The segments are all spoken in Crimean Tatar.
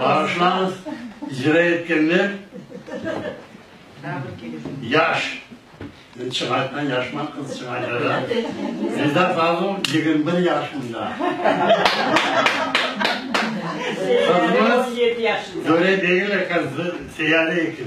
Bağışlañız, icra etkenler yaş. Men çıñaytman, yaşman, qız çıñaytara. Menda fazıl yigirmi bir yaşında. Qızımız töre degil eken, seyare eken.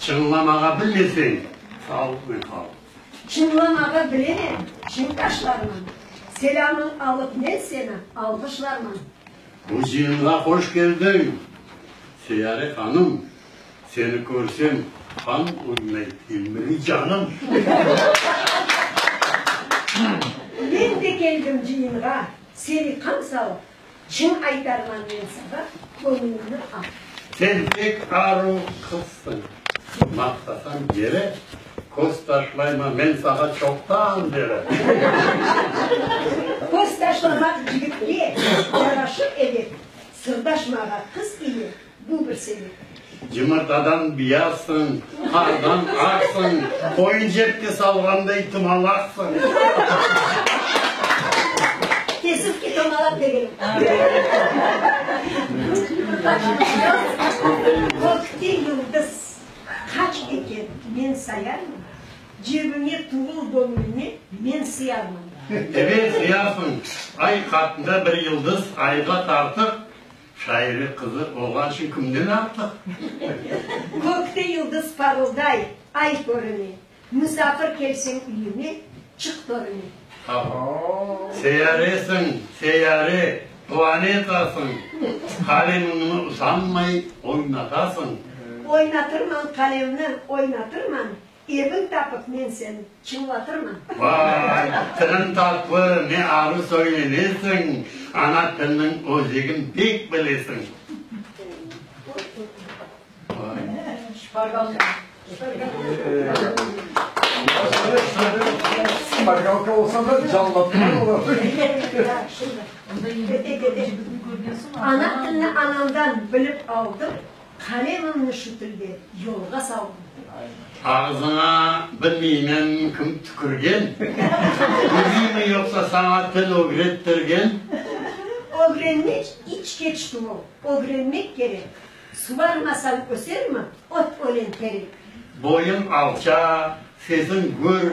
Çınlamağa bilmeseñ, sal ve qal. Çınlamağa bilemem, çiñ taşlarman. Selâmıñ alıp men seni alğışlarman. Muzeyimğa hoş keldiñ, Seyare hanım. Seni körsem, qan uynay ilmli canım. Men de keldim cıyınğa, seni qan salıp. Cın aytarman men saña, köñlüñni al. Sen pek aru qızsıñ. Maqtasañ yere, köz taşlayma, men saña çoqtan beri. Köz taşlamaq cigitke yaraşır edi, sırdaşmağa qız ile. Bu bir sebep. Cımartadan biyazsıñ, qardan aqsıñ, qoyun cepke salğanday tumalaqsıñ. Tesif ki, tumalaq degenim. Kökte yıldız qaç eken, men sayarmın, cebime tuvıl göñlüme men sıyarmın. Ebet, sıyarsıñ. Ay qattında bir yıldız, ayğa tartıq, Şaire qızı olğançın kimden artıq? Kökte yıldız parılday, ay körüne. Musafir kelseñ üyüme, çık törüne. Seyyaresiñ, seyyare, planetasıñ. Qalemiñni usanmay oynatasıñ. Oynatırman qalemni, oynatırman. Evin tapıp men sen çıñlatırman. Vay, tırın tatlı, ne arı söylenesiñ, ana tilniñ özegin bek bilesiñ. Şpargalka. Şpargalka olsa da canlatma olar. Ana tilni anamdan bilip aldım. Qalemimni şu tilde yolğa saldım. Ağızıña bilmeymen kim tükürgen, Özüymi yoqsa saña til ögrettirgen? Ögrenmek iç keç tuvıl, ögrenmek kerek, Suvarmasañ ösermi ot ölen terek? Boyuñ alça, sesiñ gür,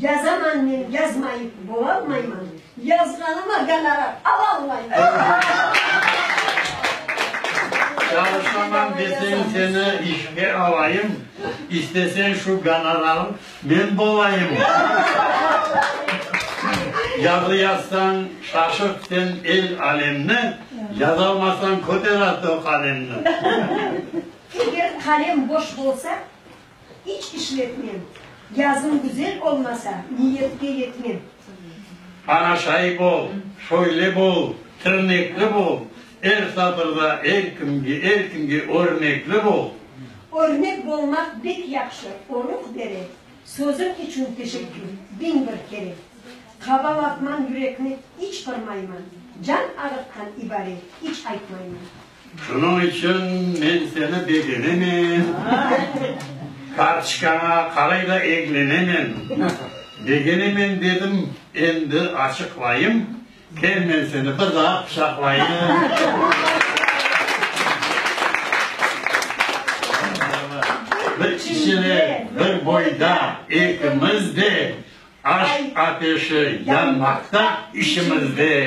Yazaman men, yazmayıp bolalmayman, yazğanıma gonorar alalmayman. Çalışaman desen seni işke alayım, istesen şu gonorarım men bolayım. Yazı yazsañ şaşırt sen el alemni, yazalmasañ köter artıq qalemni. Eger qalem boş bolsa, İç işletmem. Yazım güzel olmasa, niyetke yetmem. Bana şayip ol, şöyle bol, tırnekli bol, Er satırda er kimge, er kimge örnekli bol. Örnek bolmaq bek yahşı, o ruh bere, Sözüñ içün teşekkür, biñ bir kere. Qabalatman yürekni, iç qırmayman, Can ağırtqan ibare, iç aytmayman. Şunıñ içün men seni begenemen, kartçkaña qaray da eglenemen. Begenemen dedim, endi açıqlayım, kel men seni bir daa quçaqlayım. Bir kişide, bir boyda, ekimiz de, Aşq ateşi yanmaqta içimizde.